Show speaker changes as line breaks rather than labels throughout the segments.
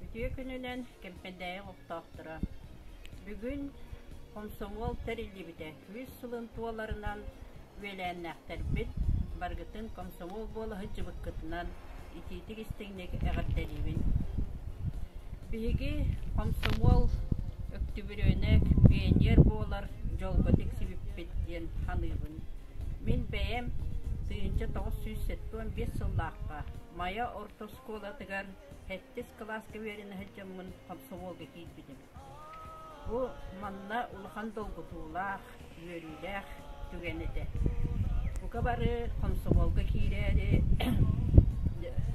Үтүө күнүнэн Кэмпэндээйи олохтоохторо! Бүгүн хомсомуол тэриллибитэ күүс сылын туоларынан үөлээннээхтэрбит баргытын комсомол буола сылдьыбыккытынан итиитик истиҥник эҕэрдэлиибин. Биһиги хомсомуол өктүбүрүөнэк пионер буолар дьолго тиксибиппит диэн саныыбын. Мин бэйэм тыйынча тоҕус сүүс сэттэ уон биэс сыллаахха Майа орто оскуолатыгар сэттис кылааска үөрэнэ сылдьаммын хомсомуолга киирбитим. Бу манна улахан долгутуулаах, үөрүүлээх түгэн этэ. Бука бары хомсомуолга киирээри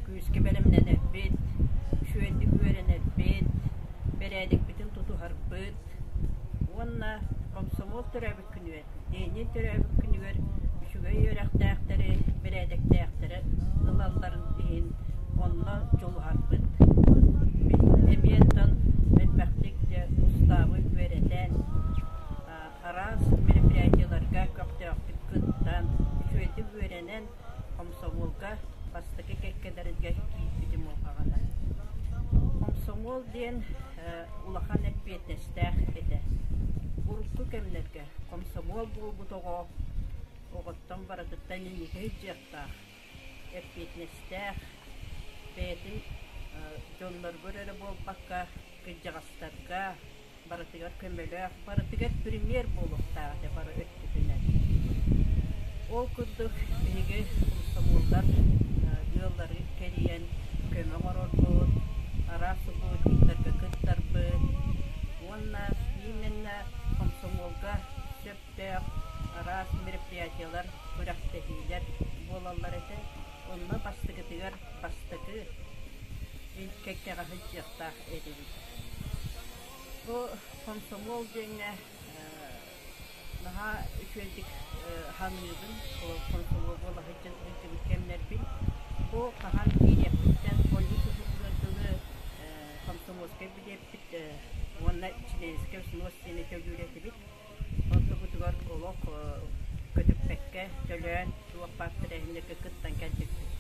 күүскэ бэлэмнэнэрбит, үчүгэйдик үөрэнэрбит, бэрээдикпитин тутуһарбыт уонна хомсомуол төрөөбүт күнүгэр Ээниэн төрөөбүт күнүгэр үчүгэй үөрэхтээхтэри, бэрээдэктээхтэрэ ылалларын иһин онно дьулуһарбыт. Мин эмиэ оттон элбэхтик устаабы үөрэтэн, араас мероприятиеларга көхтөөхтүк кыттан, үчүгэйдик үөрэнэн, Хомсомуолга бастакы кэккэлэргэ киирбитим улахан. Хомсомуол диэн улахан эппиэтинэстээх этэ. Урукку кэмнэргэ хомсомуол буолбут оҕо оҕоттон барытыттан иҥиһи дьыахтаах, эппиэтинэстээх, бэйэтин дьонноругар эрэ буолбакка, кырдьаҕастарга, барытыгар көмөлөөх, барытыгар премьер буолуохтаах этэ бары өттүтүнэн. Ол курдук биһиги комсомоллар ыаллары кэрийэн көмө оҥорорбут, араас субботниктарга кыттарбыт уонна именно комсомолга сөптөөх араас мероприятиелар, күрэхтэһиилэр буолаллар этэ. Онно бастакытыгар бастакы кэккэҕэ сылдьыахтаах эбит. Бу комсомол диэҥҥэ наһаа үчүгэйдик саныыбын, комсомол буолаһыттан өйдөбүл кэмнэрбин. Бу хаһан киириэппиттэн полис уһугунан тылы комсомольскай билиэппит уонна чилиэнскэй снос диэни төлүүр этибит. Оннубутугар олох көтүппэккэ төлөөн туох баар тэрээһиннэргэ кыттан кэлбиппит.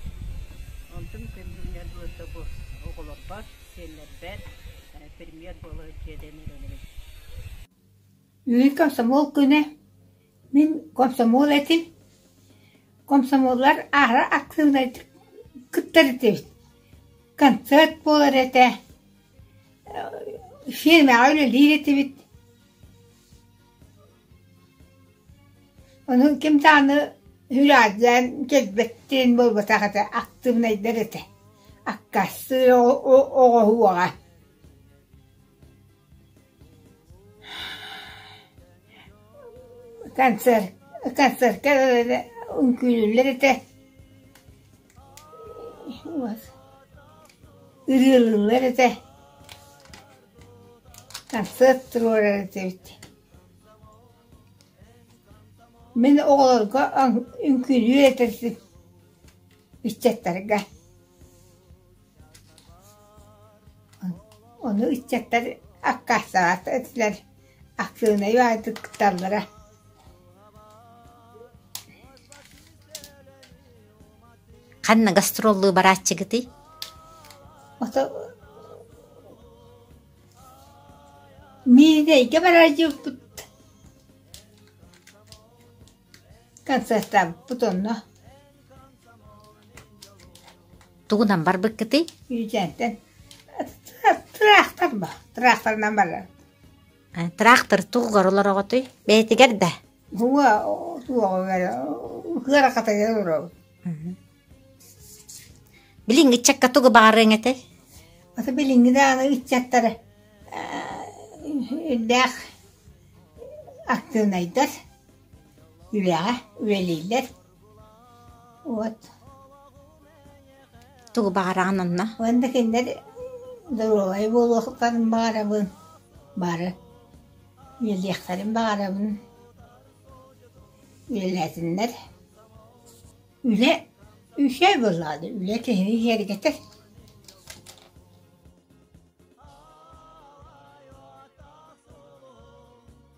Онтум күн-күннэр буолта бу оҕолорбор, сиэннэрбэр премьер буола дьиэдэн эрэнэбин.
Үүн комсомол күнэ. Мин комсомол этим. Комсомоллар аара актыыбынайдык кыттар этибит. Концерт буолар этэ. Фирмаҕа үлэлиир этибит. Ону ким даҕаны үһүлээтилээн кэлбэттиин буолбатах этэ, актыыбынайдар этэ. Аккаастыыр оҕоһуоҕа. Концерт, концертка үҥкүүлүүллэр этэ. Ырыалыыллар этэ. Сарсыарда туруорар этибит Мин оҕолорго үҥкүүлүүр этэрбин ыччаттарга Ону ыччаттар аккаастаабат этилэр Актыынай баайдык кытталлара
Ханна гастроллуу барааччыгытый?
Ото миигэ эйгэ бараары диэбиппит концертаабыппыт онно
Тугунан барбыккытый? Үүтээнтэн
тыраахтар бо тыраахтарынан барар Э, Тыраахтар
тугугар олороҕутуй? Бэйэтигэр да? Уһуга
туоҕугар кыарахатыгар олоробут
Билиҥ ыччакка тугу баҕарыаҥ этэй? Ата билиҥҥи
даҕаны ыччаттара үрдээх актыынайдар, үлэҕэ үлэлииллэр Уот
тугу баҕараҕын онно? Уонна кинилэр
доруобай буолуохтарын баҕарабын, бары үлэлиэхтэрин баҕарабын, үлэлээтиннэр. Үлэ үһүө буоллаҕа дии, үлэ киһини киэргэтэр.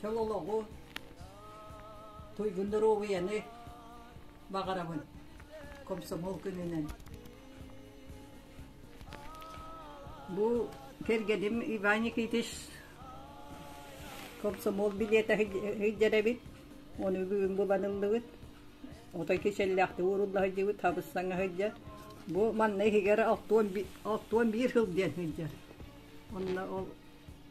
чөл олоҕу, туйгун доруобуйаны баҕарабын комсомол күнүнэн. Бу кэргэним Иван Никитич комсомол билиэтэ сылдьарабыт, оны бүгүн буланыллыбыт. Отой кичэллээхтик урулла сылдьыбыт, хабыссаҥа сылдьар. Бу манна иһигэр алтуон биир сыл диэн сылдьар. Онно ол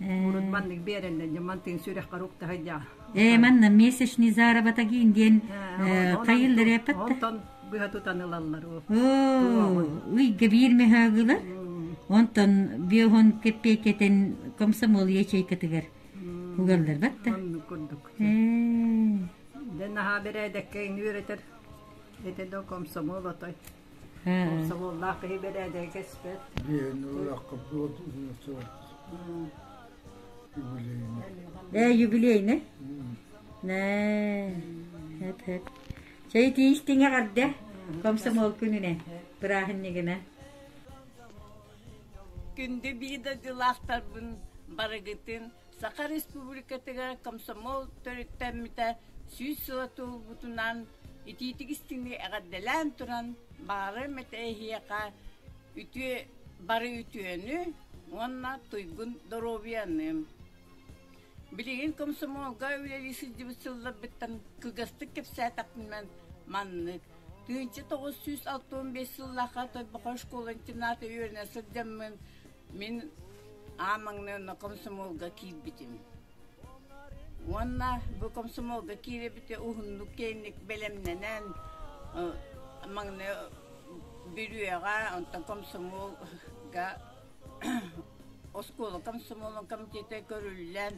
муҥурун маннык биэрэллэр дьэ мантыын сүрэххэр уктаһыйдаа ээ манна
месячный заработаги диэн тайыллареппат онтон быһа тутан
ылаллар
ыйга биир мөһөгүлэр онтон биоһон кэппиэкэтин комсомол ячейкатыгар угаллар батта оннук курдук
дэн наһаа бэрээдэккэ үөрэтэр эте до комсомол отой Сомоллаах киһи бэрээдэгэ кэспэт.
Биһин
ылахха буолуутунуту юбилейный. Э, юбилейный? Нэ. Эп, эп. Чай тииштиҥе гарда. Комсомол күнүнэ. Бырааһыннигына.
Күндү биидадылаахтарбын барыгытын Саха Республикатыгар комсомол төрүттэммитэ сүүс сыла туолбутунан итиитик истиҥи эҕэрдэлээн туран баары мэтээһиэхэ үтүө бары үтүөнү уонна туйгун доруобуйаныым билигин комсомолга үлэлии сылдьыбыт сылларбыттан кылгастык кэпсээтэхпинэн маннык тыһыынча тоҕус сүүс алта уон биэс сыллаахха Тойбохой школа интерната үөрэнэ сылдьаммын мин аан маҥнай онно комсомолга киирбитим Уонна бу комсомолга киирэбитэ уһуннук киэҥник бэлэмнэнэн маҥнай бүрүөҕэ, онтон комсомолга оскуола комсомолун комитета көрүллэн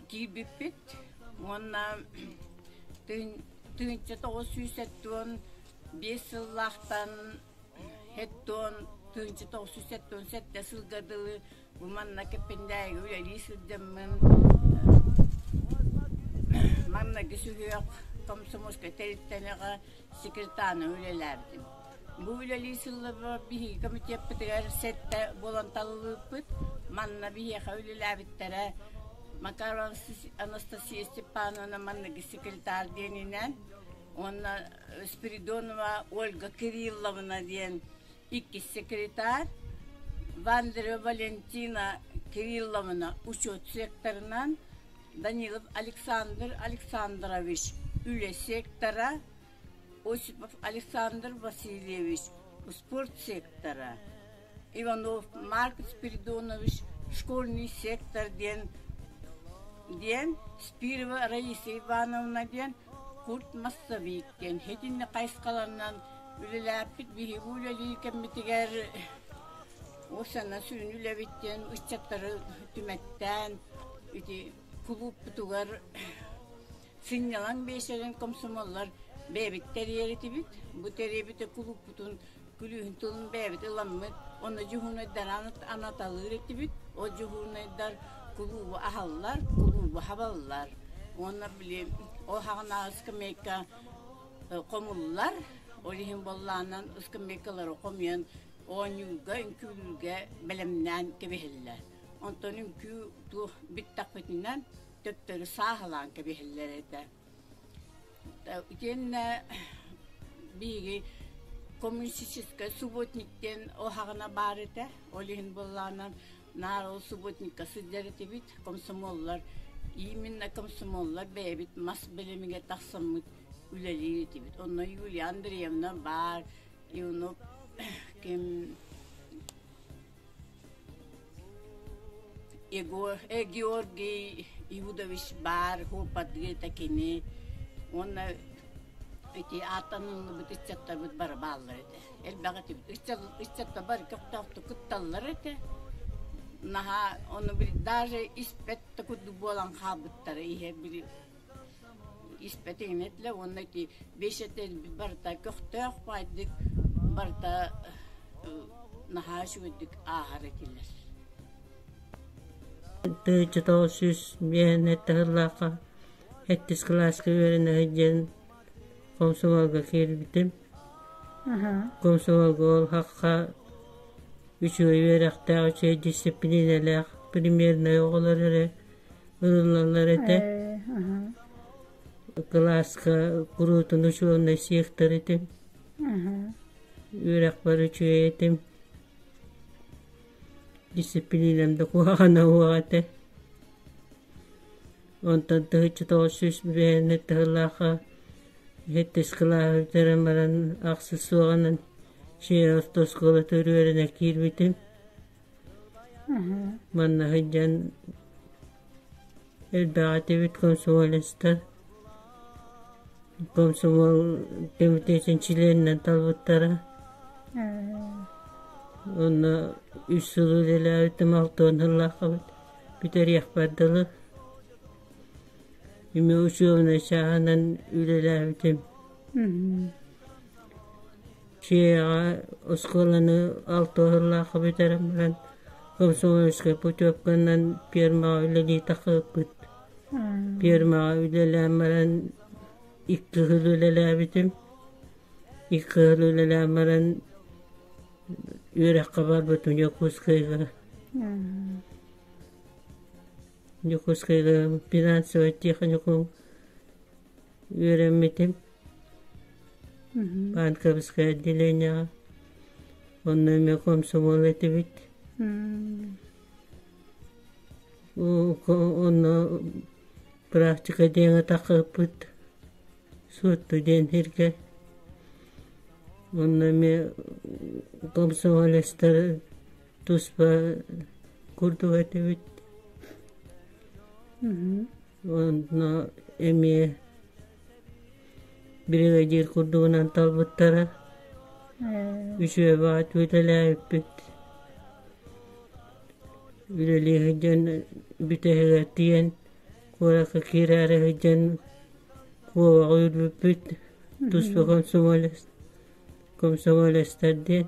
киирбиппит уонна тыһыынча тоҕус сүүс сэттион биэс сыллаахтан сэттэс сылга дылы Бу манна Киппиндээйгэ үлэлии сылдьаммын манныгы сүһүөх комсомольскай тэрилтэлэҕэ секретарна үлэлээбитим. Бу үлэлии сылларга биһиги комитеппытыгар сэттэ буолан талылыыппыт. Манна биһиэхэ үлэлээбиттэрэ Макарон Анастасия Степановна манныгы секретарь диэнинэн, уонна Спиридонова Ольга Кирилловна диэн иккис секретарь Вандрева Валентина Кирилловна учет секторынан Данилов Александр Александрович үлэ сектора, Осипов Александр Васильевич спорт сектора, Иванов Марк Спиридонович школьный сектор диэн диэн Спирова Раиса Ивановна диэн Курт массабиит диэн итинник хайысхаларынан үлэлээппит биһиги үлэлии кэммитигэр уопсаннан сүрүн үлэбит диэн ыччаттары түмэттээн ити кулууппутугар сынньалаҥ биэчэрин комсомоллар бэйэбит тэрийэр этибит. Бу тэрийбит кулууппутун күлүүһүн тылын бэйэбит ыламмыт. Ону дьуһуунайдаран анаталыыр этибит. Ол дьуһуунайдар кулуубу аһаллар, кулуубу хабаллар. Уонна били ол хаҕынааҕы скамейка хомуллар. Ол иһин боллаанан скамейкалары хомуйан оонньуурга, үҥкүүлүүргэ бэлэмнээн кэбиһэллэр. Онтон үҥкүү туох бүттахпытынан төптөрү сааһылаан кэбиһэллэр этэ. Итиэннэ биһиги коммунистическай субботник диэн уһаҕана баар этэ, ол иһин буоллаҕынан наар ол субботникка сылдьар этибит, комсомоллар именно комсомоллар бэйэбит мас бэлэмигэр тахсаммыт үлэлиир этибит. Онно Юлия Андреевна баар, Иванов ким Георгий Иванович баар куоппардыыта кини уонна ити ааттаныллыбыт ыччаттарбыт бары бааллар этэ. Элбэҕи ыччаттар бары көхтөөхтүк кытталлар этэ. Наһаа ону даже испэт да курдук буолан хаалбыттара ihe били Испэтиҥ этилэ уонна ити бэйсэтэл барыта көхтөөх баайдык, барыта наһаа үчүгэйдик ааһар этилэр
Дойдутоҕу сүүс биэһин эрдэ сыллаахха сэттис кылааска үөрэнэ сылдьан комсомолга киирбитим. Комсомолга ол хахха үчүгэй үөрэхтээх, үчүгэй дисциплиналаах премьернай оҕолор эрэ ылыллаллар этэ кылааска куруутун учуоннай сиэхтэр этим үөрэхпэр үчүгэй этим дисциплинам да куһаҕана уох этэ онтон тыһыччы тоҕус сүүс биэһиннэр тыһылаахха сэттис кылааһы бүтэрэн баран ахсыс суоҕанан чиэр орто оскуолата үрүөрэнэ киирбитим Манна сылдьан элбэҕи этибит комсомолецтар. Комсомол кэмитиэтин чилиэнинэн талбыттара. Онно үс сыл үлэлээбитим, алта уон сыллааххабыт бүтэриэхпэр дылы. Эмиэ учебнай чааһынан үлэлээбитим. Дьиэҕэ оскуоланы алта сыллаахха бүтэрэн баран комсомольскай путевканан пиэрмэҕэ үлэлии тахсыбыппыт. Пиэрмэҕэ үлэлээн баран икки кыһыл үлэлээбитим. Икки кыһыл үлэлээн баран үөрэххэ барбытым Дьокуускайга. Дьокуускайдааҕы финансовай техникум үөрэммитим. Панковское отделениеҕа. Онно эмиэ комсомол этибит. Онно практика диэҥэ тахыппыт суотту диэн сиргэ. Онно эмиэ комсомолецтар туспа курдук этибит онно эмиэ бригадир курдугунан талбыттара үчүөбэ ответаляйыппыт үлэлии сылдьан бүтэһигэр тиийэн куоракка киирээри сылдьан куобаҕы үрбүппүт туспа комсомолец комсомолецтар диэн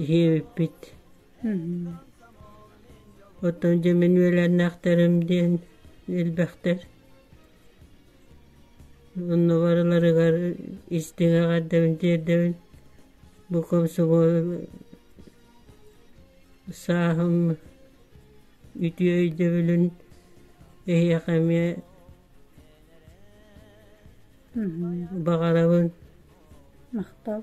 иһиэбиппит оттон дьэ мин үөлээннээхтэрим диэн элбэхтэр онно барыларыгар истиҥ эҕэрдэбин тиэрдэбин бу комсомол сааһым үтүө өйдөбүлүн эһиэхэ эмиэ баҕарабын махтал